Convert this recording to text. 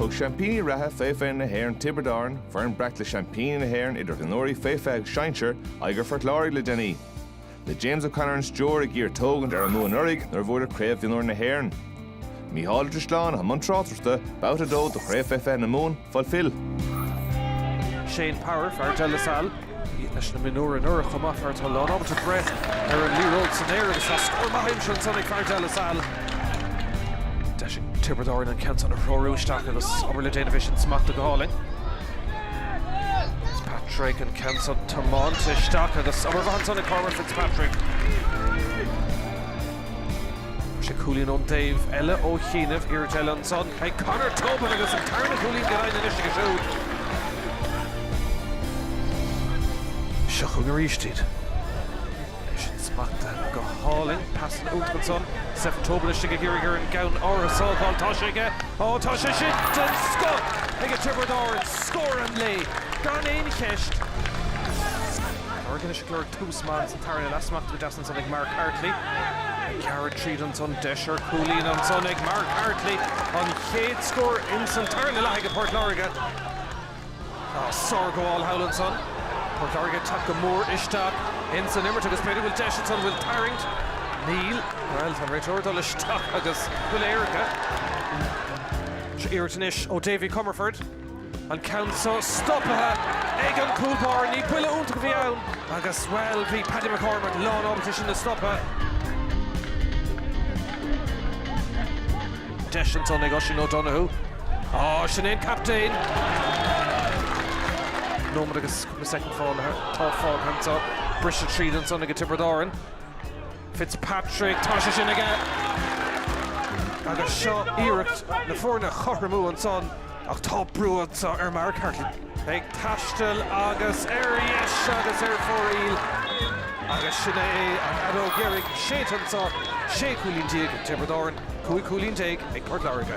Thug seaimpíní reatha fé 20 na hÉireann Tiobraid Árann, foireann breac le seaimpíní na hÉireann idir mhionúirí fé 20 agus sinsear, aghaidh ar Phort Láirge le déanaí. Le James O'Connor ar an stiúir ag iarraidh tógaint ar an mbua anuraidh nuair a bhuadar Craobh Mhionúir na hÉireann. Micheál Ó Drisleáin, i mbun tráchtaireachta, babhta 2 de Chraobh fé 20 na Mumhan. Fulfil. Shane Power, fear De La Salle. Bhí leis na mionúir anuraidh chomh maith, fear atá lánábalta breith ar an liathróid san aer agus tá scór maith aimsithe ansan ag fear De La Salle. Deis ag Tiobraid Árann an ceann san a threorú isteach agus obair le déanamh, é sin smachta go hálainn. Fitzpatrick an ceann san tiomáinte isteach agus obair mhaith ansan ag Cormac Fitzpatrick. sé cúilín ón dtaobh eile ó chianaibh, iarracht eile ansan ag Conor Tobin agus an tarna cúilín den adhmad anois aige siúd. Seo chugainn arís iad. É sin smachta go hálainn, pas an uchtaigh ansan, Stefan Tobin istigh ag iarraidh ar an gceann áir a sábháil, tá sé aige, á tá sé sin den scoth ag Tiobraid Árann, scór an lae gan aon cheist. Morgan is ag lorg tús maith insan tarna leath, smachta go deas. ansan ag Mark Hartley. Gearrtha tríd ansan, deis ar cúilín ansan ag Mark Hartley, an chéad scór insan tarna leath ag Port Láirge. Sár-ghabháil thall ansan. Port Láirge ag teacht go mór isteach insan imirt agus b'fhéidir go bhfuil deis ansan, bhfuil tarraingt? Níl. Bhuel, tá an réiteoir ag dul isteach agus puc éirice. Iarracht anois ó David Comerford. An ceann seo stoptha ag an cúl báire. Ní buille iontach a bhí ann agus, bhuel, bhí Paddy McCormack lán ábalta sin a stopadh. Deis ansan ag Oisín O'Donoghue. Á, sin é an captaen! Nóiméad agus naoi soicind fágtha, atá fágtha anso. Briseadh tríd ansan ag Tiobraid Árann. Fitzpatrick, tá sé sin aige! Agus seo iarracht na foirne a chothromú ansan. Ach tá brú anseo ar Mark Hartley. Ag taisteal agus ar dheis agus ar fóraíl agus sin é an fheadóg dheiridh séidte anseo, 16 cúilín ag Tiobraid Árann, 15 cúilín ag Port Láirge.